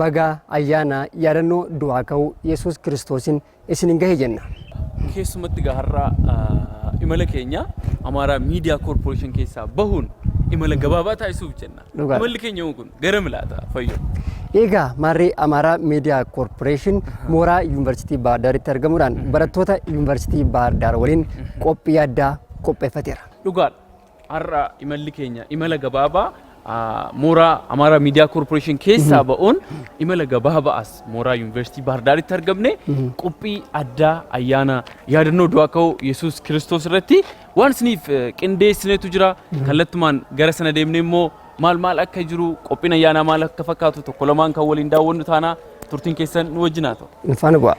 Baga ayyaana yaadannoo du'aa ka'uu Yesuus Kiristoosiin isiniin gahe jenna. Keessumatti egaa har'a imala keenya Amaaraa Miidiyaa Koorporeeshin keessaa bahuun imala gabaabaa taasisuuf jenna. Dhugaadha. Imalli keenya immoo kun gara milaata fayyoo. Egaa maarree Amaaraa Miidiyaa Koorporeeshin mooraa Yuunivarsiitii Baahar Daaritti argamuudhaan barattoota Yuunivarsiitii Baahar Daar waliin qophii addaa qopheeffateera. Dhugaadha. Har'a imalli keenya imala gabaabaa mooraa Amaaraa Miidiyaa Koorporeeshin keessaa ba'uun imala gabaabaa as mooraa Yuunivarsiitii Baahir Daaritti argamne qophii addaa ayyaana yaadannoo du'aa ka'uu Yesuus Kiristoos irratti waan isiniif qindeessinetu jira. Kallattumaan gara sana deemnee immoo Maal maal akka jiru, qophiin ayyaanaa maal akka fakkaatu tokko lamaan kan waliin daawwannu taana turtiin keessan nu wajjin haa ta'u. Nu faana bu'aa.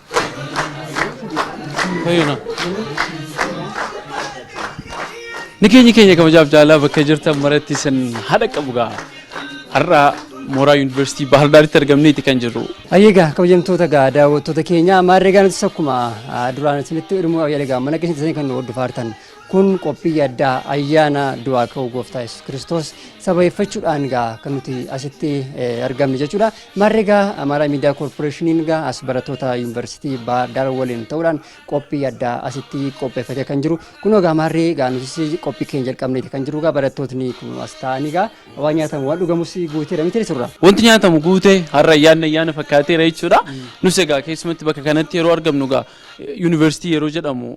Fayyina. Ni keenya keenya kabajaaf jaalaa bakka jirtan maratti isin haadha qabu gaa. Har'a mooraa yuunivarsiitii Baahar Daaritti argamneeti kan jirru. Ayyeegaa kabajamtoota gaa daawwattoota keenya maarree gaa nutis akkuma ah, duraan isinitti hidhumuu yaalegaa mana keessatti kan nu hordofaa jirtan Kun qophii yaddaa ayyaana du'aa ka'uu gooftaa Yesuus Kiristoos sababeeffachuudhaan gaa kan nuti asitti eh, argamne jechuudha. Maarree gaa Amaaraa Miidiyaa Koorporeeshiniin gaa as barattoota yuunivarsiitii Baahar Daar waliin ta'uudhaan qophii yaddaa asitti qopheeffatee kan jiru. Kunoo gaa maarree gaa nutis qophii keenya jalqabneeti kan jiru gaa barattootni kun as ta'anii gaa waan nyaatamu waan dhugamus guuteera miti surra. Wanti nyaatamu guute har'a ayyaanni ayyaana fakkaateera jechuudha. Nus egaa keessumatti bakka kanatti yeroo argamnu egaa Yuunivarsiitii yeroo jedhamu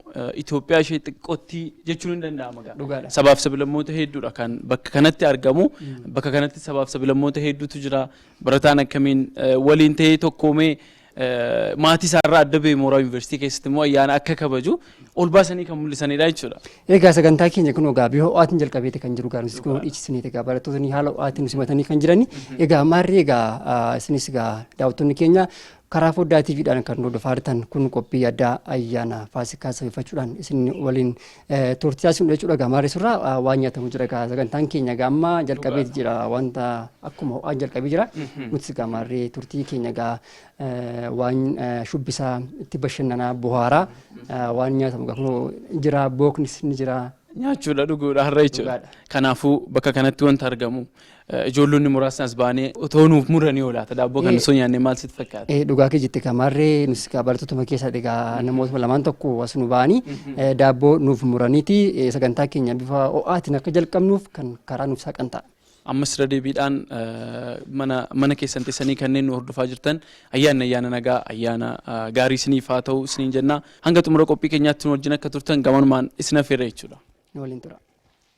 Itoophiyaa ishee xiqqootti jechuun hin danda'ama gaa. Dhugaadha. Sabaaf sabilammoota hedduudha kan bakka kanatti argamu. Bakka kanatti sabaaf sabilammoota hedduutu jira. Barataan akkamiin eh, waliin ta'ee tokkoomee eh, maatii isaarraa adda ba'e mooraa yuunivarsiitii keessatti immoo ayyaana akka kabaju ol baasanii kan mul'isanidha jechuudha. Egaa sagantaa keenya kun egaa bifa ho'aatiin jalqabeeti kan jiru gaarumsi kun dhiichisanii egaa barattootni haala ho'aatiin nu simatanii kan jirani. Egaa maarri egaa ah, isinis egaa daawwattoonni keenya Karaa Foddaa TV dhaan kan nu hordofaa jirtan kun qophii addaa ayyaana Faasikaa sababeeffachuudhaan isin waliin eh, turtii taasifnu jechuudha. Egaa maarree surraa ah, waan nyaatamu jira egaa sagantaan keenya egaa amma jalqabee jira wanta akkuma ho'aan jalqabee jira. Nutis egaa maarree turtii keenya egaa eh, waan eh, shubbisaa itti bashannanaa buhaaraa eh, waan nyaatamu egaa kunoo jira booknis ni jira. Nyaachuudha dhuguudha har'a jechuudha. Dhugaadha. Kanaafuu bakka kanatti wanta argamu Ijoollonni muraasni as baanee otoo nuuf muranii yoo laata daabboo kan osoo nyaannee maal sitti fakkaata? Dhugaa kee jette kan maarree nus kaa barattootuma keessaa egaa namootuma lamaan tokko as nu ba'anii daabboo nuuf muraniiti sagantaa keenya bifa ho'aatiin akka jalqabnuuf kan karaa nuuf saaqan ta'a. Ammas irra deebiidhaan mana mana keessan teessanii kanneen nu hordofaa jirtan ayyaanni ayyaana nagaa ayyaana gaarii isiniif haa ta'u isiniin jenna hanga xumura qophii keenyaatti nu wajjin akka turtan gamanumaan isin affeerra jechuudha. Nu waliin tura.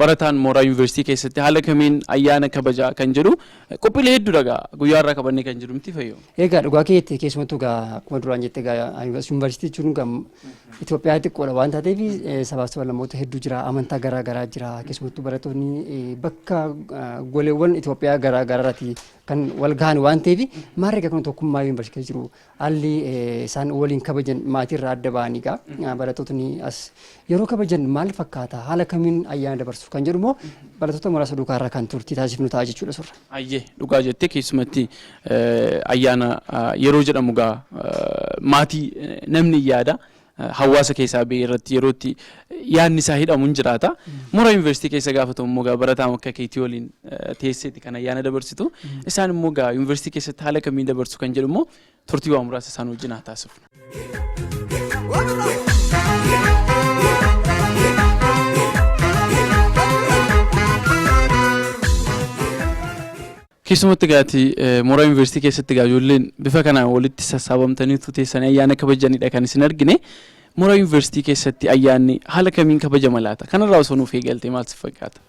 Barataan mooraa Yuunivarsiitii keessatti haala kamiin ayyaana kabaja kan jedhu qophiilee hedduudha egaa guyyaa irraa qabannee kan jiru miti fayyoo. Egaa dhugaa keetti keessumattuu egaa akkuma duraan jette egaa yuunivarsiitii jechuun egaa Itoophiyaa xiqqoodha waan taateef sabaaf sablammoota hedduu jira amantaa garaa garaa jira keessumattuu barattoonni bakka goleewwan Itoophiyaa garaa garaarratti kan wal gahan waan ta'eef maarree egaa kun tokkummaa yuunivarsiitii jiru Haalli isaan waliin kabajan maatiirraa adda ba'anii egaa barattootni as yeroo kabajan maal fakkaata haala kamiin ayyaana dabarsu kan jedhu immoo barattoota muraasa duukaarraa kan turtii taasifnu ta'a jechuudha surra. Ayyee dhugaa jette keessumatti ayyaana yeroo jedhamu egaa maatii namni yaada hawaasa keessaa ba'e irratti yeroo itti yaadni isaa hidhamu hin jiraata. Mooraa yuunivarsiitii keessa gaafa ta'u immoo gaa barataa akka keetii waliin eh, teesseeti kan ayyaana dabarsitu. Isaan immoo gaa yuunivarsiitii keessatti haala kamiin dabarsu kan jedhu immoo turtii waa muraasa isaan wajjin haa taasifnu. Keessumatti egaa ati mooraa Yuunivarsiitii keessatti egaa ijoolleen bifa kanaan walitti sassaabamtaniitu teessanii ayyaana kabajjanidha kan isin argine. Mooraa Yuunivarsiitii keessatti ayyaanni haala kamiin kabajama laata? Kanarraa osoo nuuf eegaltee maal si fakkaata?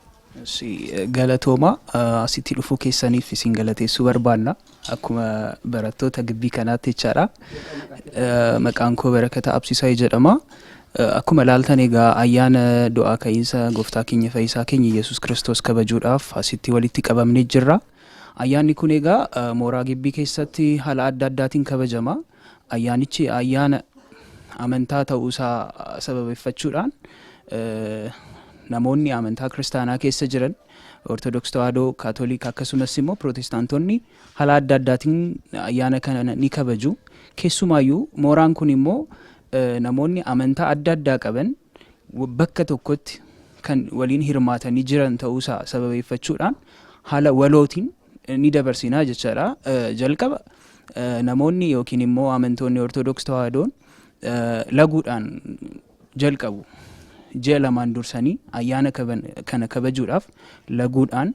Si galatooma asitti dhufuu keessaniif isin galateessuu barbaanna akkuma barattoota gibbii kanaatti jechaadha. Maqaan koo Barakata Absisaa jedhama. Akkuma ilaaltan egaa ayyaana du'aa ka'iinsa Gooftaa keenya Fayyisaa keenya Iyyasuus Kiristoos kabajuudhaaf asitti walitti qabamnee jirra. Ayyaanni kun egaa mooraa gibbii keessatti haala adda addaatiin kabajama. Ayyaanichi ayyaana amantaa ta'uu isaa sababeffachuudhaan namoonni amantaa kiristaanaa keessa jiran Ortodoks Tawaahidoo, Kaatolik akkasumas immoo Pirootestaantonni haala adda addaatiin ayyaana kana ni kabaju. Keessumaayyuu mooraan kun immoo Namoonni amantaa adda addaa qaban bakka tokkotti kan waliin hirmaatanii jiran ta'uusaa sababeeffachuudhaan haala walootiin ni dabarsinaa jechaadha. Jalqaba namoonni yookiin immoo amantoonni Ortodoks Tawaahidoon laguudhaan jalqabu. Ji'a lamaan dursanii ayyaana kana kabajuudhaaf laguudhaan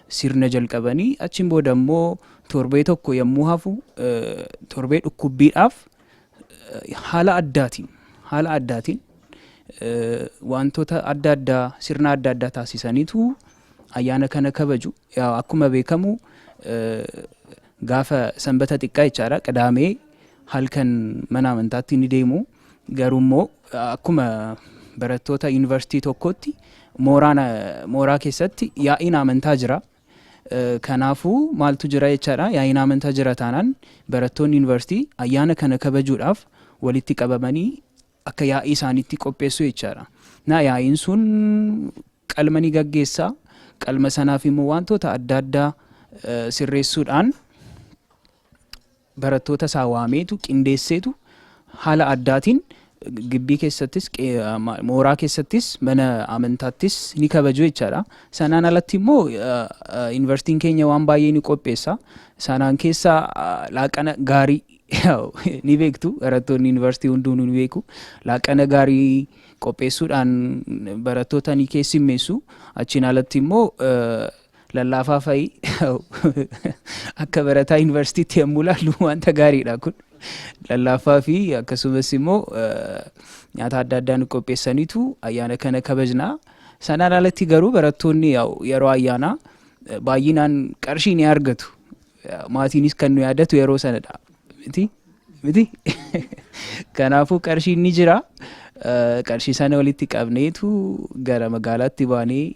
sirna jalqabanii achiin booda immoo torbee tokko yommuu hafu torbee dhukkubbiidhaaf haala addaatiin haala addaatiin wantoota adda addaa sirna adda addaa taasisaniitu ayyaana kana kabaju. Akkuma beekamu gaafa sanbata xiqqaa jechaadha qidaamee halkan mana amantaatti ni deemu. Garuu immoo akkuma barattoota yuunivarsiitii tokkootti mooraa keessatti yaa'iin amantaa jira. Kanaafuu maaltu jira jechaadha yaa'iin amantaa jira taanaan barattoonni yuunivarsiitii ayyaana kana kabajuudhaaf walitti qabamanii akka yaa'ii isaaniitti qopheessu jechaadha. Na yaa'iin sun qalma ni gaggeessa. Qalma sanaaf immoo wantoota adda addaa sirreessuudhaan barattoota isaa waameetu, qindeesseetu haala addaatiin gibbii keessattis, mooraa keessattis, mana amantaattis ni kabaju jechaadha. Sanaan alatti immoo yuunivarsiitiin keenya waan baay'ee ni qopheessa. Sanaan keessa laaqana gaarii ni beektu barattoonni yuunivarsiitii hunduu ni beeku. Laaqana gaarii qopheessuudhaan barattoota ni keessummeessu. Achiin alatti immoo Lallaafaa fa'i akka barataa yuunivarsiitiitti yommuu ilaallu wanta gaariidha kun. Lallaafaa fi akkasumas immoo nyaata adda addaa nu qopheessaniitu ayyaana kana kabajna. Sanaan alatti garuu barattoonni yeroo ayyaanaa baay'inaan qarshii ni argatu. Maatiinis kan nu yaadatu yeroo sanadha. Miti? Miti? Kanaafuu qarshiin ni jira. Qarshii sana walitti qabneetu gara magaalaatti baanee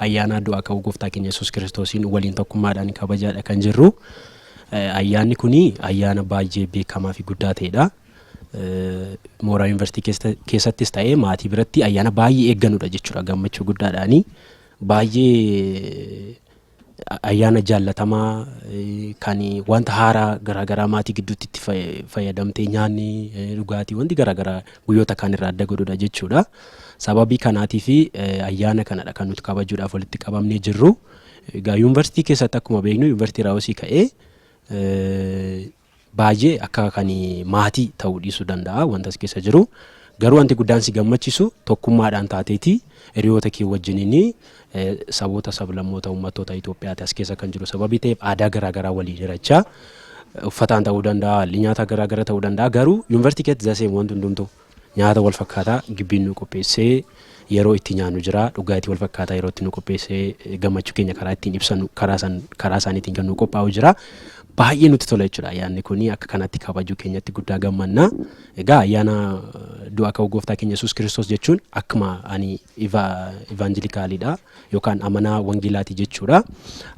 Ayyaana du'aa ka'uu gooftaa keenya Yesuus Kiristoosiin waliin tokkummaadhaan kabajaadha kan jirru. Ayyaanni kun ayyaana baay'ee beekamaa fi guddaa ta'edha. Mooraa yuunivarsiitii keessattis ta'ee maatii biratti ayyaana baay'ee eegganudha jechuudha gammachuu guddaadhaani. Baay'ee ayyaana jaallatamaa kan wanta haaraa garaagaraa maatii gidduutti itti fayyadamtee nyaanni dhugaatii wanti garaagaraa guyyoota kaan irraa adda godhudha jechuudha. Sababii kanaatiif ayyaana kanadha kan nuti kabajuudhaaf walitti qabamnee jirru. Egaa yuunivarsiitii keessatti akkuma beeknu yuunivarsiitii Raawusii ka'ee baay'ee akka kan maatii ta'uu dhiisuu danda'a wanta as keessa jiru. Garuu wanti guddaan si gammachiisu tokkummaadhaan taateeti hiriyoota kee wajjiniin saboota sablammoota uummattoota Itoophiyaati as keessa kan jiru sababii ta'eef aadaa garaagaraa waliin hirachaa uffataan ta'uu danda'a haalli nyaataa garaagara ta'uu danda'a garuu yuunivarsiitii keessatti zaseem wanti hundumtuu. Nyaata wal fakkaataa gibbiin nuu qopheessee yeroo itti nyaannu jira. Dhugaatii wal fakkaataa yeroo itti nuu qopheessee gammachuu keenya karaa ittiin ibsannu karaa san karaa isaaniitiin kan nuu qophaa'u jira. Baay'ee nutti tola jechuudha ayyaanni kuni akka kanatti kabajuu keenyatti guddaa gammanna. Egaa ayyaana du'a ka'uu gooftaa keenya Yesuus Kiristoos jechuun akkuma ani iva ivaanjilikaaliidha yookaan amanaa wangeelaati jechuudha.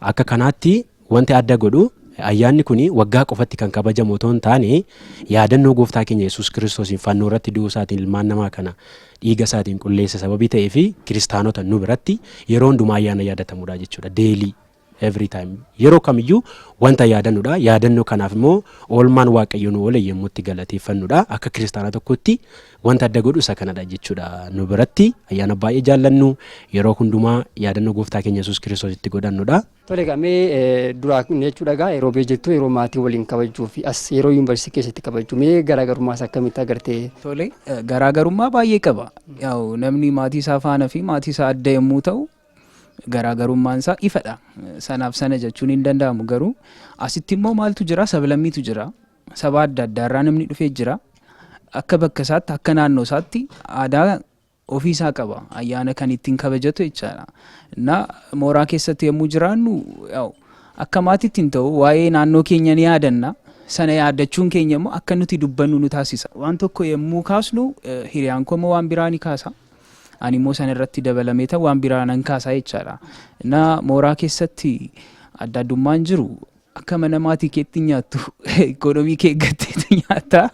Akka kanaatti Wanti adda godhu, ayyaanni kun waggaa qofatti kan kabajamu otoo hin taane, yaadannoo Gooftaa keenya Yesuus Kiristoosiin fannoo irratti du'uu isaatiin ilmaan namaa kana dhiiga isaatiin qulleesse sababii ta'eef Kiristaanota nu biratti yeroo hundumaa ayyaana yaadatamudha jechuudha. Daily, every time. Yeroo kamiyyuu wanta yaadannudha. Yaadannoo kanaaf immoo oolmaan Waaqayyo nu oole yommuu itti galateeffannudha. Akka Kiristaana tokkootti wanta adda godhu isa kanadha jechuudha. Nu biratti ayyaana baay'ee jaallannu yeroo hundumaa yaadannoo Gooftaa keenya Yesuus Kiristoos itti godhannudha. Tole egaa mee duraa kun jechuudha egaa yeroo biyya jirtu yeroo maatii waliin kabajjuu fi as yeroo yuunivarsiitii keessatti kabajju mee garaagarummaa isaa akkamitti agarte? Tole garaagarummaa baay'ee qaba. Yaa'u namni maatii isaa faana fi maatii isaa adda yommuu ta'u garaagarummaan isaa ifadha. Sanaaf sana jechuun hin danda'amu garuu asitti immoo maaltu jira sablammiitu jira. Saba adda addaarraa namni dhufee jira. Akka bakka isaatti akka naannoo isaatti aadaa ofii isaa qaba. Ayyaana kan ittiin kabajatu jechaadha. Na mooraa keessatti yommuu jiraannu akka maatiitti hin ta'u waa'ee naannoo keenya ni yaadanna. Sana yaadachuun keenya immoo akka nuti dubbannu nu taasisa. Waan tokko yommuu kaasnu hiriyaan koo immoo waan biraa ni kaasa. Ani immoo sana irratti dabalamee ta'u waan biraa nan kaasaa jechaadha. Na mooraa keessatti adda addummaan jiru akka mana maatii keetti nyaattu ikoonomii kee eeggatteetu nyaattaa.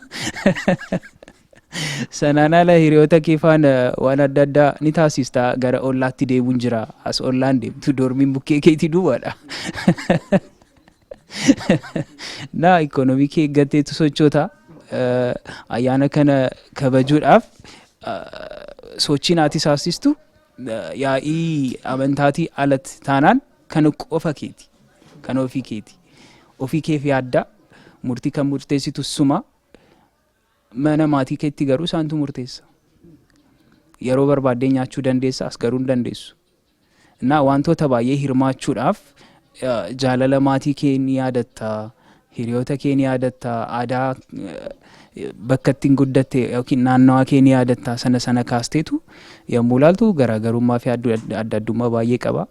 Sanaan ala hiriyoota kee faana waan adda addaa ni taasista. Gara ollaatti deemuun jira. As ollaan deemtu doormiin bukkee keetii duwwaadha. Naa ikoonoomii kee eeggatteetu sochoota. Eh, Ayyaana kana kabajuudhaaf eh, sochiin ati taasistu eh, yaa'ii amantaatii alatti taanaan kan qofa keeti. Kan ofii keeti. Ofii keef yaadda. Murtii kan murteessitu suma. Mana maatii keetti garuu isaantu murteessa. Yeroo barbaaddee nyaachuu dandeessa, as garuu hin dandeessu. Innaa wantoota baay'ee hirmaachuudhaaf jaalala maatii kee ni yaadatta, hiriyoota kee ni yaadatta, aadaa bakka ittiin guddatte yookiin naannawaa kee ni yaadatta sana sana kaasteetu yommuu ilaaltu garaagarummaa fi adda addummaa baay'ee qaba.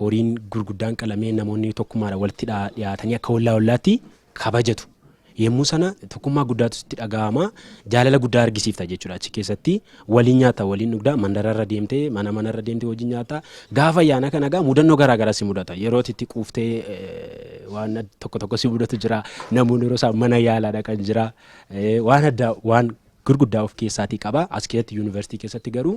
Horiin gurguddaan qalamee namoonni tokkummaadhaan walitti dhiyaatanii akka ollaa ollaatti kabajatu. Yemmuu sana tokkummaa guddaatu sitti dhaga'ama. Jaalala guddaa argisiifta jechuudha achi keessatti. Waliin nyaata, waliin dhugda, mandararra deemtee, mana manarra deemtee wajjin nyaata. Gaafa ayyaana kana egaa mudannoo garaa garaa si mudata. Yeroo ati itti quuftee eh, waan ad- tokko tokko si mudatu jira. Namoonni yeroo isaan mana yaalaa dhaqan jira. Eh, Waan addaa waan gurguddaa of keessaatii qaba. As keessatti yuunivarsiitii keessatti garuu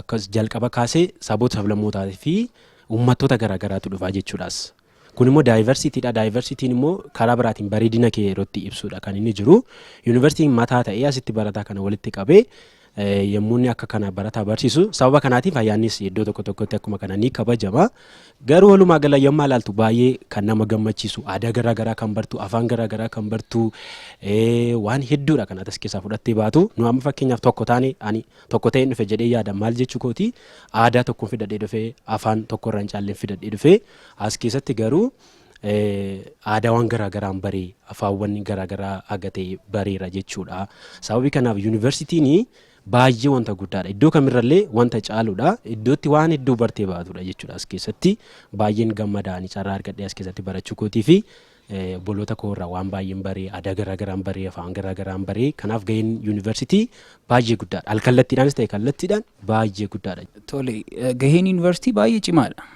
akkas jalqaba kaasee saboota sablammootaa fi uummattoota garaagaraatu dhufaa jechuudhaas. Kun immoo daayivarsiitiidha. Daayivarsiitiin immoo karaa biraatiin bareedina kee yeroo itti ibsuudha kan inni jiru. Yuunivarsiitiin mataa ta'ee asitti barataa kana walitti qabee yommuu inni akka kana barataa barsiisu sababa kanaatiif ayyaannis iddoo tokko tokkotti akkuma kana ni kabajama. Garuu walumaa gala yommaa ilaaltu baay'ee kan nama gammachiisu aadaa garaa garaa kan bartu afaan garaa garaa kan bartu waan hedduudha kan atas keessaa fudhattee baatu nu amma fakkeenyaaf tokko taane ani tokko ta'een dhufe jedhee yaada maal jechuu kooti aadaa tokkoon fidadhee dhufe afaan tokko irraan caalleen fidadhee dhufe as keessatti garuu aadaawwan garaa garaan baree afaawwan garaa garaa agatee bareera jechuudha sababii kanaaf yuunivarsiitiin Baay'ee wanta guddaadha. Iddoo kamirrallee wanta caaludha. Iddootti waan hedduu bartee baatudha jechuudha as keessatti. Baay'een gammada ani carraa argadhee as keessatti barachuu kootii fi eh, obboloota koo irraa waan baay'een baree, aadaa garaa garaan baree, afaan garaa garaan baree. Kanaaf gaheen yuunivarsiitii baay'ee guddaadha. Alkallattiidhaanis ta'e kallattiidhaan baay'ee guddaadha. Tole, eh, gaheen yuunivarsiitii baay'ee cimaadha.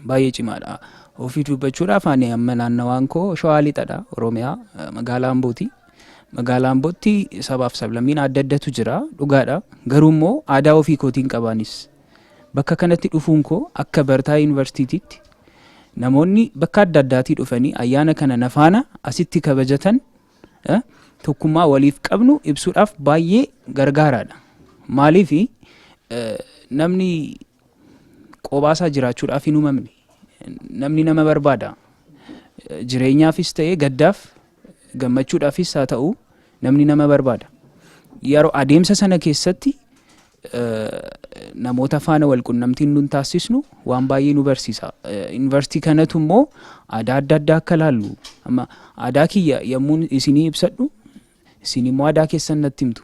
Baay'ee cimaadha. Ofii dubbachuudhaaf ani amma naannawaan koo Shawaa Lixadha, Oromiyaa, eh, magaalaa Ambooti. Magaalaa Ambootti sabaaf sablammiin adda addatu jira dhugaadha. Garuu immoo aadaa ofii kootiin qabaanis bakka kanatti dhufuun koo akka barataa yuunivarsiitiitti namoonni bakka adda addaatii dhufanii ayyaana kana nafaana asitti kabajatan tokkummaa waliif qabnu ibsuudhaaf baay'ee gargaaraadha. Maaliif namni Qobaasaa jiraachuudhaaf hin uumamne. Namni nama barbaada. Jireenyaafis ta'ee gaddaaf gammachuudhaafis haa ta'u namni nama barbaada. Yeroo adeemsa sana keessatti namoota faana wal qunnamtiin nun taasisnu waan baay'ee nu barsiisa. Yuunivarsiitii kanatu immoo aadaa adda addaa akka laallu. Amma aadaa kiyya yommuu isinii ibsadhu isin immoo aadaa keessan natti himtu.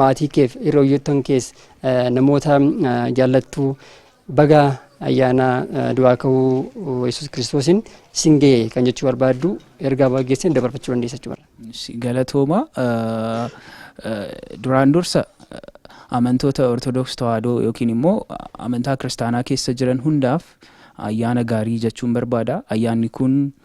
maatii keef hiriyyoottan kees namoota jaallattu baga ayyaana du'aa ka'uu yesus kiristoosiin isin ga'e kan jechuu barbaaddu ergaa baga geessan dabarfachuu dandeessa jechuudha. Galatooma duraan dursa amantoota Ortodoks Tawaahidoo yookiin immoo amantaa kiristaanaa keessa jiran hundaaf ayyaana gaarii jechuun barbaada. Ayyaanni kun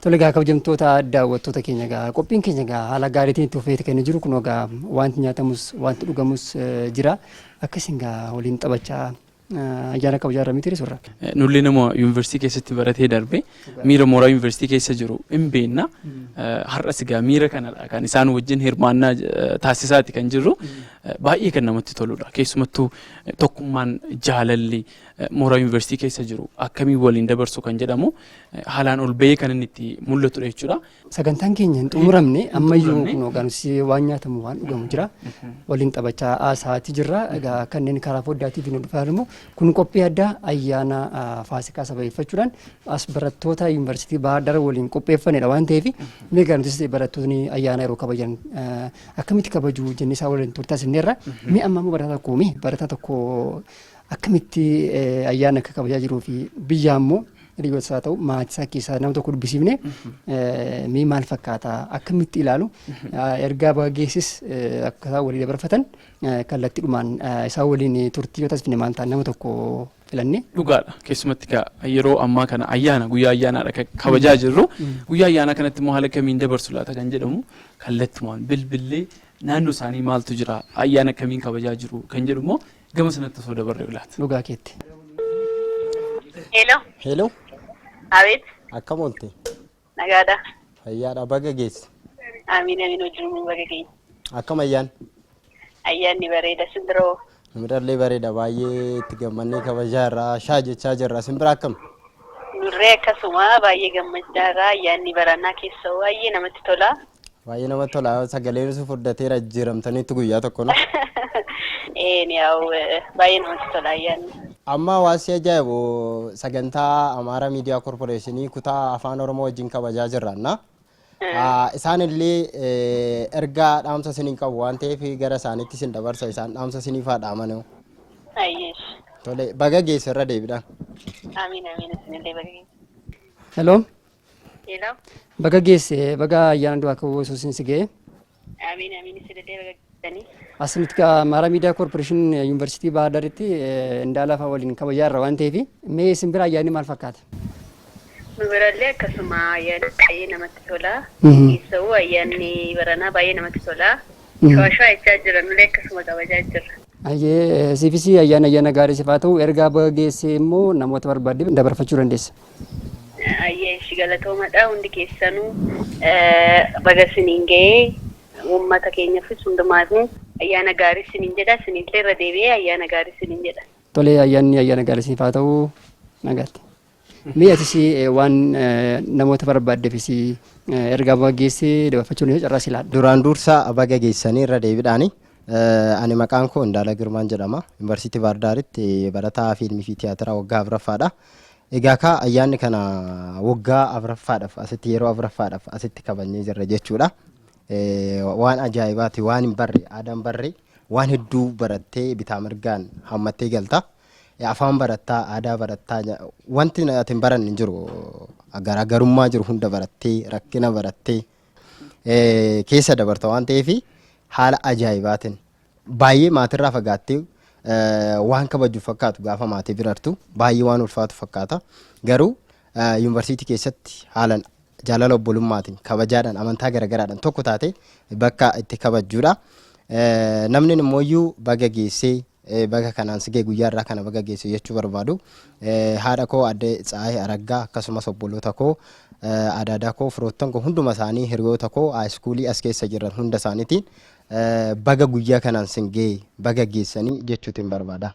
Tole gaa kabajamtoota daawwattoota keenya gaa qophiin keenya gaa haala gaariitiin itti fufeeti kan jiru kun gaa wanti nyaatamus wanti dhugamus jira akkasiin gaa waliin taphachaa Ajaara qabu jaarra miti surra. Nullee nama yuunivarsiitii keessatti baratee darbe miira mooraa yuunivarsiitii keessa jiru hin beekna. Har'as egaa miira kanadha kan isaan wajjin hirmaannaa taasisaati kan jirru baay'ee kan namatti toludha. Keessumattuu tokkummaan jaalalli mooraa yuunivarsiitii keessa jiru akkamii waliin dabarsu kan jedhamu haalaan ol ba'ee kan inni itti mul'atudha jechuudha. Sagantaan keenya hin xumuramne ammayyuu kun hooggansi waan nyaatamu waan dhugamu jira. Waliin taphachaa haasa'aatii jirra. Egaa kanneen karaa foddaa TV nu dhufaa immoo kun qophii addaa ayyaana faasikaa sababeeffachuudhaan as barattoota yuunivarsiitii Baahar Daar waliin qopheeffanedha waan ta'eef meegaa nutis barattoonni ayyaana yeroo kabajan akkamitti kabajuu jennee isaa waliin turtaas inni irra mee amma immoo barataa tokko mee barataa tokko akkamitti ayyaana akka kabajaa jiruu fi biyyaa immoo Rigots haa ta'u maatii isaa keessaa nama tokko dubbisiifne mee maal fakkaata akkamitti ilaalu ergaa baga geessis akka isaan walii dabarfatan kallattiidhumaan isaa waliin turtii yoo taasifne maal ta'a nama tokko filanne. Dhugaadha keessumatti gaa yeroo ammaa kana ayyaana guyyaa ayyaanaadha kan kabajaa jirru guyyaa ayyaanaa kanatti immoo haala kamiin dabarsu laata kan jedhamu kallattumaan bilbillee naannoo isaanii maaltu jira ayyaana akkamiin kabajaa jiru kan jedhu immoo Gama sanatti osoo dabarre bilaata. Dhugaa keetti. Hello. Hello. Abeet. Akkam oolte? Nagaadha. Fayyaadha baga geesse. Amiin amiin wajjin nu baga geenye. Akkam ayyaan? Ayyaanni bareeda sindiroo. Mirallee bareeda baay'ee itti gammannee kabajaa irraa shaa jechaa jirra. Isin bira akkam? Nurree akkasuma baay'ee gammachaa irraa ayyaanni baranaa keessa baay'ee namatti tola. Baay'ee namatti tola. Sagaleen isin furdateera jijjiiramtaniitti guyyaa tokko no. Een yaa'u baay'ee namatti tola ayyaanni. Amma hawaasi ajaa'ibu sagantaa Amaara Miidiyaa Korporeeshinii kutaa Afaan Oromoo wajjin kabajaa jirranna. Isaan illee ergaa dhaamsa isiniin qabu waan ta'eef gara isaaniitti isin dabarsa isaan dhaamsa isiniif haa dhaamanu. Ayyeesh. Tole baga geesse irra deebidhaan. Amiin amiin isinillee baga geesse. Hello. Hello. Baga geesse baga ayyaana du'aa ka'uu Yesuusiin si ga'e. Amiin amiin isin illee baga geessanii. Asumatti kaa Maaraa Miidiyaa Koorporeeshin Yuunivarsiitii Baahar Daaritti Indaalafaa waliin kabajaa irra waan ta'eef mee isin bira ayyaanni maal fakkaata? Nu birallee akkasuma ayyaanni baay'ee namatti tola. Keessawuu ayyaanni baranaa baay'ee namatti tola. Shawashaa jechaa jira nullee akkasuma kabajaa jirra. Ayyee siifis ayyaana ayyaana gaarii siif haa ta'u ergaa baga geessee immoo namoota barbaadde dabarfachuu dandeessa. Ayyee ishi galatoomadha hundi keessanuu baga isiniin ga'ee uummata keenyafis hundumaafuu ayyaana gaarii isiniin jedha isinillee irra deebi'ee ayyaana gaarii isiniin jedha. Tolee ayyaanni ayyaana gaarii isiniif haa ta'u nagaatti. Mee atis waan namoota barbaaddeefis ergaa baga geesse dabarfachuun yoo carraa si laadha. Duraan dursa baga geessanii irra deebiidhaani. Ani maqaan koo Indaala Girmaan jedhama. Yuunivarsiitii Baardaaritti barataa fiilmii fi tiyaatiraa waggaa afraffaadha. Egaa kaa ayyaanni kana waggaa afraffaadhaaf asitti yeroo afraffaadhaaf asitti kabajnee jirra jechuudha. Waan ajaa'ibaati waan hin barre aadaan barre waan hedduu barattee bitaa mirgaan hammattee galta. Afaan barattaa aadaa barattaa wanti ati hin baranne hin jiru. Garaagarummaa jiru hunda barattee rakkina barattee keessa dabarta waan ta'eef haala ajaa'ibaatiin Baay'ee maatirraa fagaattee waan kabajju fakkaatu gaafa maatii bira artu baay'ee waan ulfaatu fakkaata. Garuu yuunivarsiitii keessatti haalan jaalala obbolummaatiin kabajaadhaan amantaa garagaraadhaan tokko taate bakka itti kabajjuudha. Namni immoo iyyuu baga geessee baga kanaan sigee guyyaa irraa kana baga geesse jechuu barbaadu. Haadha koo adde Tsaayee Araggaa akkasumas obboloota koo adaadaa koo firoottan koo hunduma isaanii hiriyoota koo haayiskuulii as keessa jiran hunda isaaniitiin Baga guyyaa kanaan sin ga'e baga geessanii jechuutin barbaada.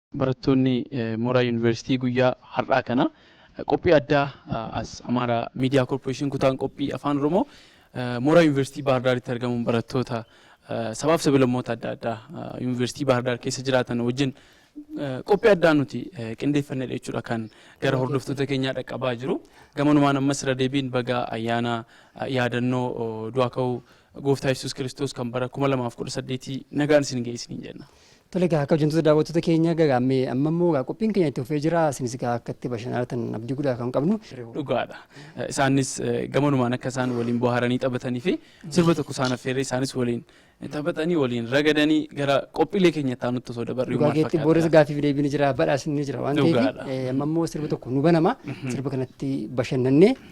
Barattoonni mooraa Yuunivarsiitii guyyaa har'aa kana qophii addaa as Amaaraa Miidiyaa Korporeeshin kutaan qophii Afaan Oromoo mooraa Yuunivarsiitii Baahar Daaritti argamuun barattoota sabaaf sabilammoota adda addaa Yuunivarsiitii Baahar Daar keessa jiraatan wajjin qophii addaa nuti qindeeffannedha jechuudha kan gara hordoftoota keenyaa dhaqqabaa jiru. Gamanumaan ammas irra deebiin baga ayyaana yaadannoo du'aa ka'uu Gooftaa Yesuus Kiristoos kan bara 2018 nagaan isin ga'e isiniin jenna. Tole egaa akka hojjettoota daawwattoota keenya gagaammee amma immoo egaa qophiin keenya itti fufee jira isinis egaa akka itti bashannanartan abdii guddaa kan qabnu. Dhugaadha. Isaanis gamanumaan akka isaan waliin bohaaranii taphatanii fi sirba tokko isaan affeerree isaanis waliin taphatanii waliin ragadanii gara qophiilee keenya itti aanutti osoo dabarree Dhugaa maal keetti fakkaata? boodas gaaffiif deebiin jira badhaasni jira waan ta'eef Dhugaadha. eh, amma immoo sirba tokko nu banama sirba kanatti bashannannee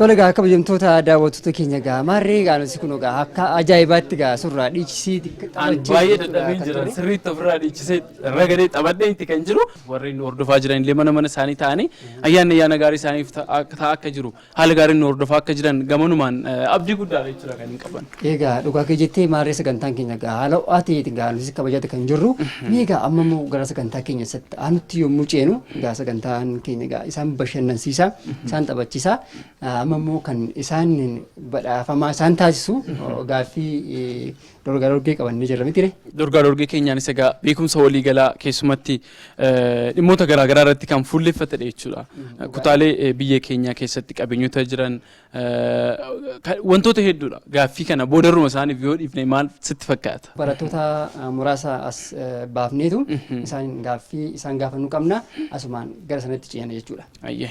Tole egaa kabajamtoota daawwattoota keenya egaa maarree egaa nuti kun egaa akka ajaa'ibaatti egaa surraa dhiichisii An baay'ee dadhabeen jira. Sirriitti ofirraa dhiichisee irra galee taphadhee itti kan jiru. Warreen hordofaa jiran illee mana mana isaanii ta'anii ayyaanni ayyaana gaarii isaaniif ta'a akka jiru haala gaariin nu hordofaa akka jiran gamanumaan abdii guddaadha jechuudha kan hin qaban. Egaa dhugaa kee jettee maarree sagantaan keenya egaa haala ho'aa ta'eeti egaa nuti kabajata kan jirru. Mee egaa amma immoo gara sagantaa keenya isatti aanutti yommuu ceenu egaa sagantaan keenya egaa isaan bashannansiisa isaan taphachiisa Ah, amma immoo kan isaan badhaafamaa isaan taasisu oh, gaaffii eh, dorgaa dorgee qaban ni jira mitire. Dorgaa dorgee keenyaanis egaa beekumsa waliigalaa keessumatti dhimmoota garaa garaa irratti kan fuulleffatedha jechuudha. Kutaalee biyya keenyaa keessatti qabeenyota jiran wantoota hedduudha. Gaaffii kana boodarruma isaaniif yoo dhiifne maal sitti fakkaata? Barattoota muraasa as baafneetu isaan gaaffii isaan gaafannu qabna. Asumaan gara sanatti ceena jechuudha. Ayyee.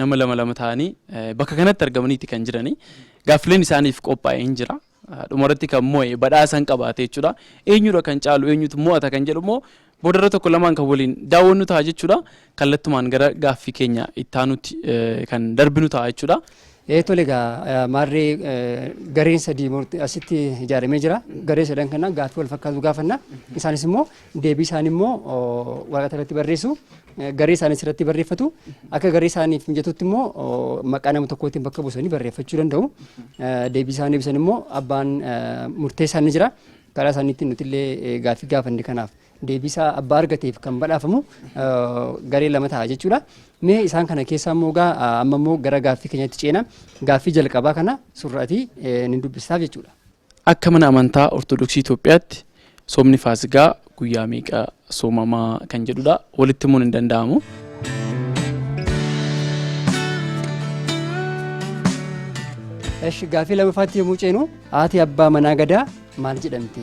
nama lama lama ta'anii bakka kanatti argamaniiti kan jiranii gaaffileen isaaniif qophaa'e hin jira. Dhumarratti kan mo'e badhaasa hin qabaate jechuudha. Eenyudha kan caalu eenyutu mo'ata kan jedhu immoo boodarra tokko lamaan kan waliin daawwannu ta'a jechuudha. Kallattumaan gara gaaffii keenya ittaanutti kan darbinu ta'a jechuudha. Ee tole egaa maarri gareen sadii asitti ijaaramee jira. Garee sadan kana gaaffii wal fakkaatu gaafanna. Isaanis immoo deebii isaanii immoo waraqata irratti barreessu. Garee isaaniis irratti barreeffatu. Akka garee isaaniif mijatutti immoo maqaa nama tokkootiin bakka buusanii barreeffachuu danda'u. Deebii isaanii ibsan immoo abbaan murtee isaanii jira. Karaa isaaniitiin nuti illee gaaffii gaafanne kanaaf deebii isaa abbaa argateef kan badhaafamu garee lama ta'a jechuudha. Mee isaan kana keessaa immoo gaa amma immoo gara gaaffii keenyatti ceena. Gaaffii jalqabaa kana surraatii ni dubbisaaf jechuudha. Akka mana amantaa Ortodoksii Itoophiyaatti soomni Faasigaa guyyaa meeqa soomama kan jedhudha. Walitti himuun hin danda'amu. Esh gaaffii lammaffaatti yommuu ceenu haati abbaa manaa gadaa maal jedhamti?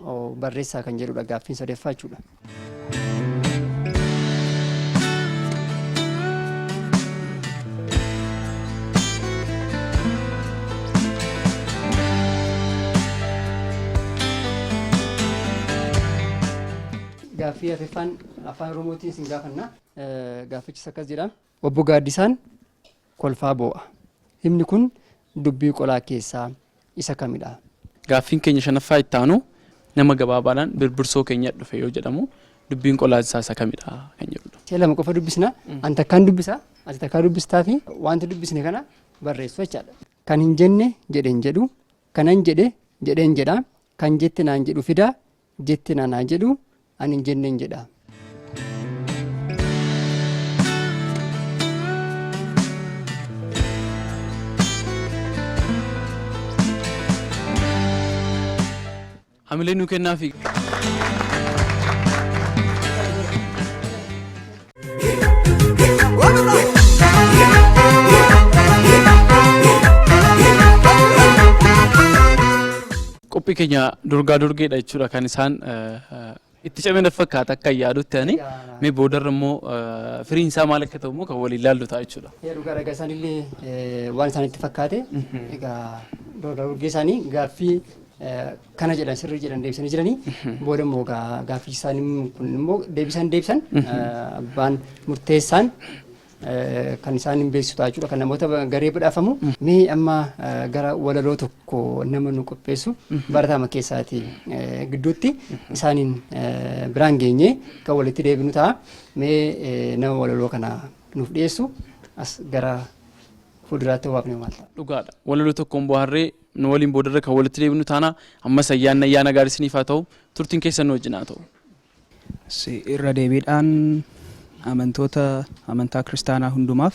oo barreessaa kan jedhudha gaaffiin sadeeffaa jechuudha. Gaaffii afeffaan afaan oromootiin isin gaafanna. Gaaffichis akkas jedha. Obbo Gaaddisaan kolfaa boo'a. Himni kun dubbii qolaa keessaa isa kamidha? Gaaffiin keenya shanaffaa itti aanu nama gabaabaadhaan Birbirsoo keenya dhufe yoo jedhamu dubbiin qolaa isaa isa kamidha kan jedhudha. Si'a lama qofa dubbisna. Ani takkaan dubbisa, ati takkaa dubbistaafi wanta dubbisne kana barreessu jechaadha. Kan hin jenne jedhe hin jedhu, kanan jedhe jedheen jedha, kan jette naan jedhu fida, jetteen anaa jedhu ani hin jenneen jedha. Hamilee nuu kennaafi. Qophii keenya durgaa durgeedha jechuudha kan isaan itti cimina fakkaata akka yaadutti ani mee boodarra immoo firiin isaa maal akka ta'u immoo kan waliin ilaallu ta'a jechuudha. Dhugaa ragaa isaanillee waan isaanitti fakkaate egaa durgaa durgee isaanii gaaffii kana jedhan sirrii jedhan deebisanii jiranii booda immoo gaa- gaaffii isaanii kun immoo deebisaan deebisan abbaan murteessaan eh, kan isaan hin beeksisu ta'a jechuudha kan namoota ba- garee badhaafamu mee amma eh, gara walaloo tokko nama nu qopheessu barataama keessaati eh, gidduutti isaaniin eh, biraan geenye kan walitti deebinu ta'a mee eh, nama walaloo kana nuuf dhiyeessu as gara fuulduraatti waamne maal ta'a. dhugaadha walaloo tokkoon bohaarree Nu waliin boodarra kan walitti deebinu taana. Ammas ayyaanni ayyaana gaarii isiniif haa ta'u. Turtiin keessan nu wajjin haa ta'u. Irra deebiidhaan amantoota amantaa kiristaanaa hundumaaf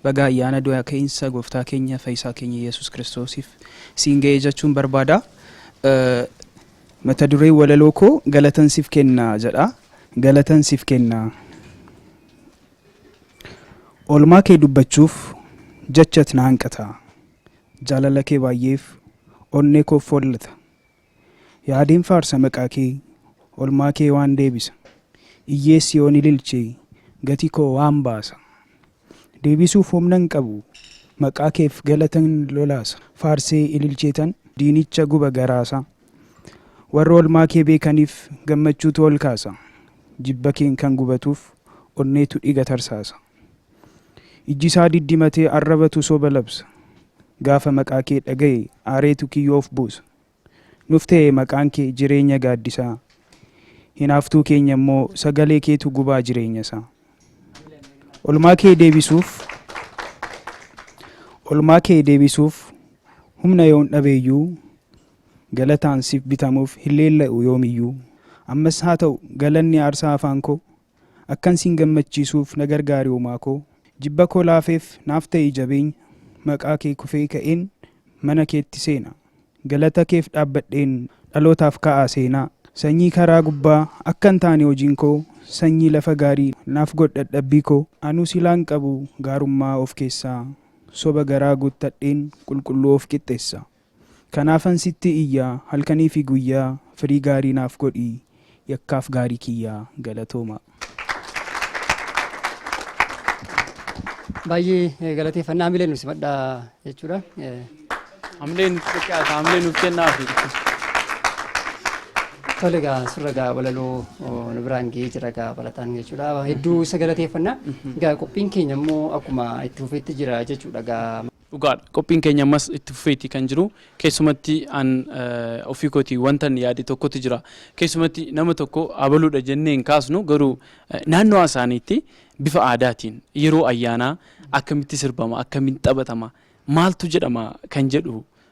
baga ayyaana du'a keeyinsa gooftaa keenya fayyisaa keenya Yesuus Kiristoosiif siin ga'ee jechuun barbaada. Mata dureen walaloo koo galatan sif kenna jedha. Galatan sif kenna. Olmaa kee dubbachuuf jachat na hanqata. Jaalala kee baay'eef onnee koof follata Yaadeen faarsa maqaa kee olmaa kee waan deebisa Iyyees yoon ililche gati koo waan baasa Deebisuuf humna hin qabu maqaa keef galatan lolaasa Faarsee ililcheetan diinicha guba garaasa Warra olmaa kee beekaniif gammachuutu ol kaasa Jibba keen kan gubatuuf onneetu dhiga tarsaasa. Ijji isaa diddimatee arrabatu soba labsa. Gaafa maqaa kee dhagaye aareetu kiyyoo of buusa. Nuf ta'e maqaan kee jireenya gaaddisaa. Hinaaftuu keenya immoo sagalee keetu gubaa jireenya isaa. Olmaa kee deebisuuf Olmaa kee deebisuuf humna yoon dhabeeyyuu galataan siif bitamuuf hin leella'u yoomiyyuu. Ammas haa ta'u galanni aarsaa afaan koo Akkan siin gammachiisuuf na gargaari Uumaa koo. Jibba koo laafeef naaf ta'i jabeenya Maqaa kee kufee ka'een mana keetti seena Galata keef dhaabbadheen dhalootaaf kaa'a seenaa Sanyii karaa gubbaa akkan taane hojiin koo Sanyii lafa gaarii naaf godh dhadhabbii koo Anuu silaan qabu gaarummaa of keessaa Soba garaa guuttadheen qulqulluu of qixxeessaa. Kanaafan sitti iyya halkanii fi guyyaa firii gaarii naaf godhi yakkaaf gaarii kiyya galatoomaa. Baay'ee galateeffanna hamilee nu simadha jechuudha. Hamilee nuuf xiqqaata hamilee nuuf kennaafi. Tole egaa surra egaa walaloo nu biraan ga'ee jira egaa barataan jechuudha. Hedduu isa galateeffanna. Egaa qophiin keenya immoo akkuma itti fufeetti jira jechuudha egaa. Dhugaadha qophiin keenya ammas itti fufeeti kan jiru keessumatti an ofii kooti wantan yaade tokkotu jira keessumatti nama tokko abaluudha jennee hin kaasnu garuu naannoo isaaniitti bifa aadaatiin yeroo ayyaanaa akkamitti sirbama akkamitti taphatama maaltu jedhama kan jedhu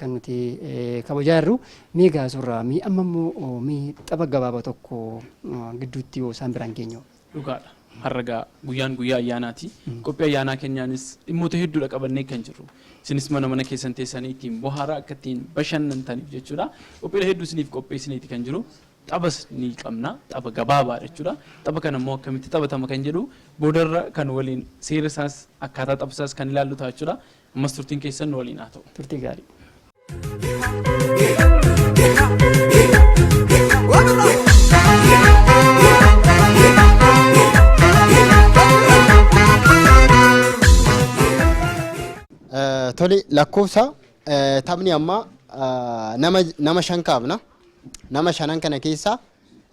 kan nuti kabajaa jirru mee gaa surraa mee amma immoo mee tapha gabaaba tokko gidduutti yoo isaan biraan geenyu. Dhugaadha. Har'a gaa guyyaan guyyaa ayyaanaati. Qophii ayyaanaa keenyaanis dhimmoota hedduudha qabannee kan jirru. Isinis mana mana keessan teessanii ittiin bohaaraa akka ittiin bashannantaniif jechuudha. Qophiilee hedduu isiniif qopheessineeti kan jiru. Taphas ni qabna. Tapha gabaabaa jechuudha. Tapha kana immoo akkamitti taphatama kan jedhu boodarra kan waliin seera isaas akkaataa tapha isaas kan ilaallu ta'a jechuudha. Ammas turtiin keessan nu waliin haa ta'u. Turtii gaarii. Eh, Tole lakkoofsa eh, taphni ammaa eh, nama nama shan kaafna. Nama shanan kana keessaa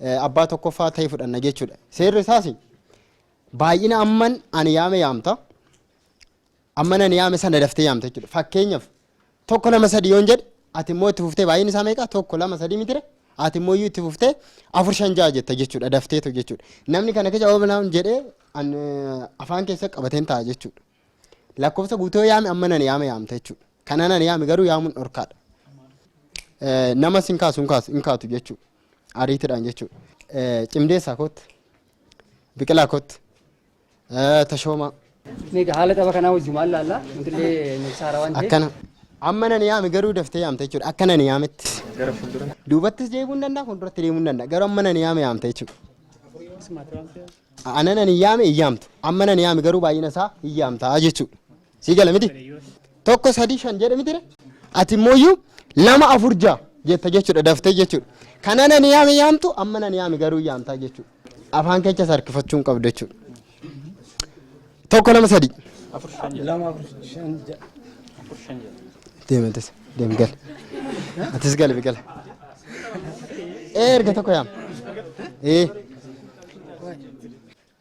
eh, abbaa tokkoffaa ta'e fudhanna jechuudha. Seerri isaas baay'ina amman ani yaame yaamta. Amma nan yaame sana daftee yaamta jechuudha. Fakkeenyaaf tokko lama sadii yoon jedhe ati immoo itti fuftee baay'een isaa meeqa tokko lama sadii mitire ati immoo iyyuu itti fuftee afur shan ja'a jetta jechuudha dafteetu jechuudha. Namni kana keessa oolan jedhee an, eh, afaan keessa qabateen ta'a jechuudha. Lakkoofsa guutuu yoo yaame amma nan yaame yaamta jechuudha. Kana nan yaame garuu yaamuun dhorkaadha. Eh, Nama sin kaasu hin kaasu hin kaatu jechuudha. Ariitiidhaan jechuudha. Eh, Cimdeessaa kootti. Biqilaa kootti. Tashoomaa. Meeqa haala tapha kanaa wajjumaan laalla. Nuti illee nuufsaa haaraa waan ta'eef. Akkana. Amma nan yaame garuu daftee yaamte jechuudha. Akka nan yaametti. Gara fuuldura. Duubattis deebi'uu ni danda'a, fuulduratti deemuu ni danda'a. Garuu amma nan yaame yaamte jechuudha. Ana nan yaame hin yaamtu. Amma nan yaame garuu baay'ina isaa hin yaamta jechuudha. sii gala miti tokko sadii shan jedhe mitire ati immoo lama afur ja'a jetta jechuudha daftee jechuudha kana nan yaame yaamtu amma nan yaame garuu yaamtaa jechuudha afaan keessa sarkifachuu hin qabdu jechuudha tokko lama sadii deematis deem gal atis gal biqil ee erga tokko yaam ee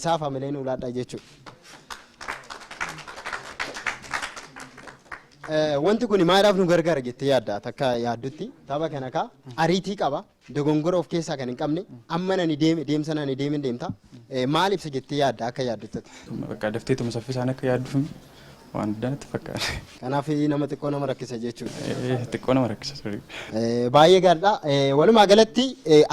Isaaf hamilee nuu laadhaa jechuudha. Wanti kun maaliidhaaf nu gargaara jettee yaadda takka yaaddutti tapha kana kaa ariitii qaba dogongora of keessaa kan hin qabne amma nani deeme deemsa nani deeme deemta maal ibsa jettee yaadda akka yaaddutti. Bakka daftee tuma saffisaan akka yaadduun waan addaa natti fakkaata. Kanaaf nama xiqqoo nama rakkisa jechuudha. Xiqqoo nama rakkisa. Baay'ee gaariidha. Walumaa galatti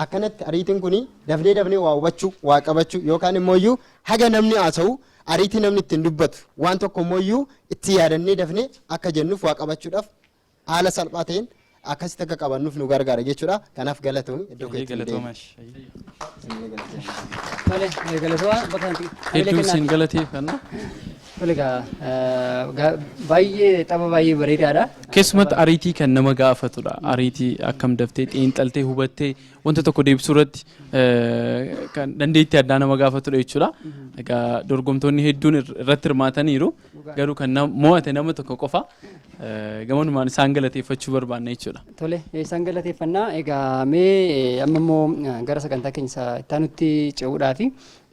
akkanatti ariitiin kun Dafnee dafnee waa hubachuu, waa qabachuu yookaan immoo iyyuu haga namni haasa'u ariitii namni ittiin dubbatu waan tokko immoo iyyuu itti yaadannee dafnee akka jennuuf waa qabachuudhaaf haala salphaa ta'een akkasitti akka qabannuuf nu gargaara jechuudha. Kanaaf galatoomi iddoo Baay'ee keetti nu galatoomaa deebi'i. ishee. Tole, eh, galatoomaa bakka kanatti hamilee Hedduu kennaa. isin galateeffanna. Tole egaa, eh, ga- baay'ee tapha baay'ee bareedaadha. Keessumatti ariitii kan nama gaafatudha. Ariitii akkam daftee xiinxaltee hubattee wanta tokko deebisuu irratti kan dandeettii addaa nama gaafatudha jechuudha. Egaa dorgomtoonni hedduun irratti hirmaataniiru. Garuu kan mo'ate nama tokko qofa. Gamanumaan isaan galateeffachuu barbaanna jechuudha. Tole isaan galateeffannaa. Egaa mee amma immoo gara sagantaa keenya itti aanutti ce'uudhaafi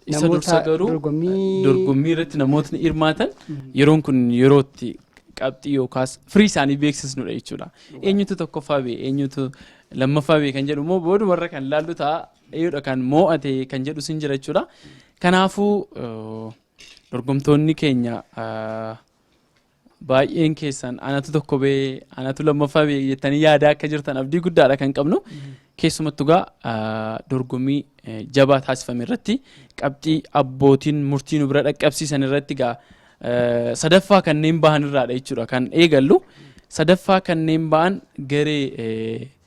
isa Namoota dursa garuu dorgommii- dorgommii irratti namootni hirmaatan yeroon kun yerootti qabxii yookaas firii isaanii beeksisnudha jechuudha. Eenyutu tokkoffaa bee eenyutu lammaffaa bee kan jedhu immoo boodumarra kan laallu ta'a eeyyoodha kan moo'ate kan jedhu sin jira jechuudha. Kanaafuu eh, dorgomtoonni keenya eh, Baay'een keessan anatu tokko bee anatu lammaffaa bee jettanii yaadaa akka jirtan abdii guddaadha kan qabnu. Keessumattu gaa dorgommii jabaa taasifame irratti qabxii abbootiin murtii nu bira dhaqqabsiisan irratti gaa sadaffaa kanneen bahan irraadha jechuudha kan eegallu. Sadaffaa kanneen ba'an garee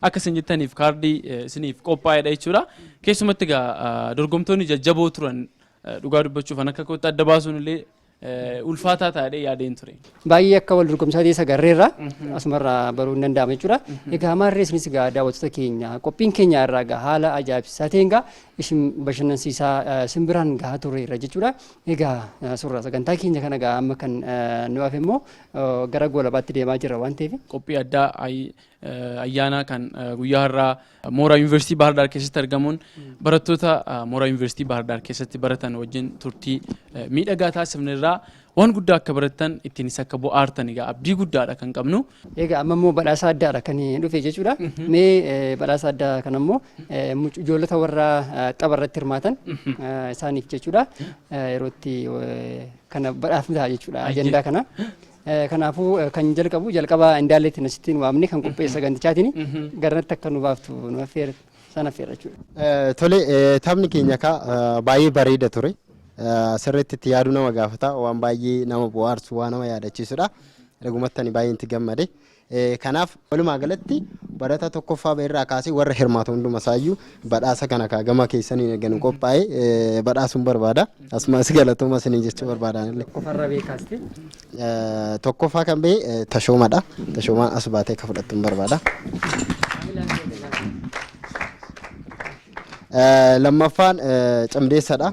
akka isin jettaniif kaardii isiniif qophaa'edha jechuudha. Keessumatti egaa dorgomtoonni jajjaboo turan dhugaa dubbachuuf an akka kootti adda baasuun illee ulfaataa taa'ee yaadeen ture. Baay'ee akka wal dorgomsaa ta'e sagarreerra asumarraa baruu hin danda'amu jechuudha. Egaa maarree isinis egaa daawwattoota keenya qophiin keenya irraa egaa haala ajaa'ibsiisaa ta'een egaa isin bashannansiisaa isin biraan gahaa tureerra jechuudha. Egaa suuraa sagantaa keenya kana egaa amma kan nu hafe immoo gara goolabaatti deemaa jirra waan ta'eef. Qophii addaa ayyaanaa kan guyyaa har'aa mooraa yuunivarsiitii Baahar Daar keessatti argamuun barattoota mooraa yuunivarsiitii Baahar Daar keessatti baratan wajjin turtii miidhagaa taasifne irraa waan guddaa akka barattan ittiinis akka bohaartan egaa abdii guddaadha kan qabnu. Egaa amma immoo badhaasa addaadha kan dhufe jechuudha. Mee badhaasa addaa kana immoo ijoollota warra tapha irratti hirmaatan isaaniif jechuudha yerootti kana badhaafni ta'a jechuudha ajandaa kana. Kanaafuu kan jalqabu jalqaba indaalleetti nasittiin waamne kan qopheessa sagantichaatiin garanatti akka nu baaftu nu affeera sana affeera jechuudha. Tole taphni keenya kaa baay'ee bareeda ture. Sirriitti itti yaaduu nama gaafata waan baay'ee nama bohaarsu waan nama yaadachiisudha. Dhugumatti ani baay'een itti gammade. Kanaaf walumaa galatti barataa tokkoffaa ba'e irraa kaasee warra hirmaatu hunduma isaayyuu badhaasa kana kaa gama keessaniin erga nu qophaa'e eh, badhaasuun barbaada. Asumas galatooma isiniin jechuu barbaadaan illee. Qofarra beekaasti. Eh, Tokkoffaa kan ba'e eh, tashoomadha. Tashoomaan as baatee akka fudhattuun barbaada. Eh, Lammaffaan eh, cimdeessadha.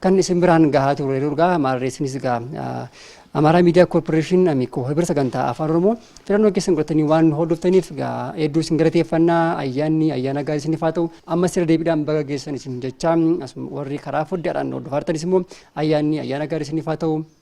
kan isin biraan gahaa turre durgaa maarree isinis gaa Amaaraa Miidiyaa Koorporeeshin Amikoo Hibira Sagantaa Afaan Oromoo filannoo keessan godhatanii waan nu hordoftaniif gaa hedduu isin galateeffannaa ayyaanni ayyaana gaarii isiniif haa ta'u amma sirra deebiidhaan baga geessan isin jechaa asuma warri karaa foddaadhaan hordofaartanis immoo ayyaanni ayyaana gaarii isiniif haa ta'u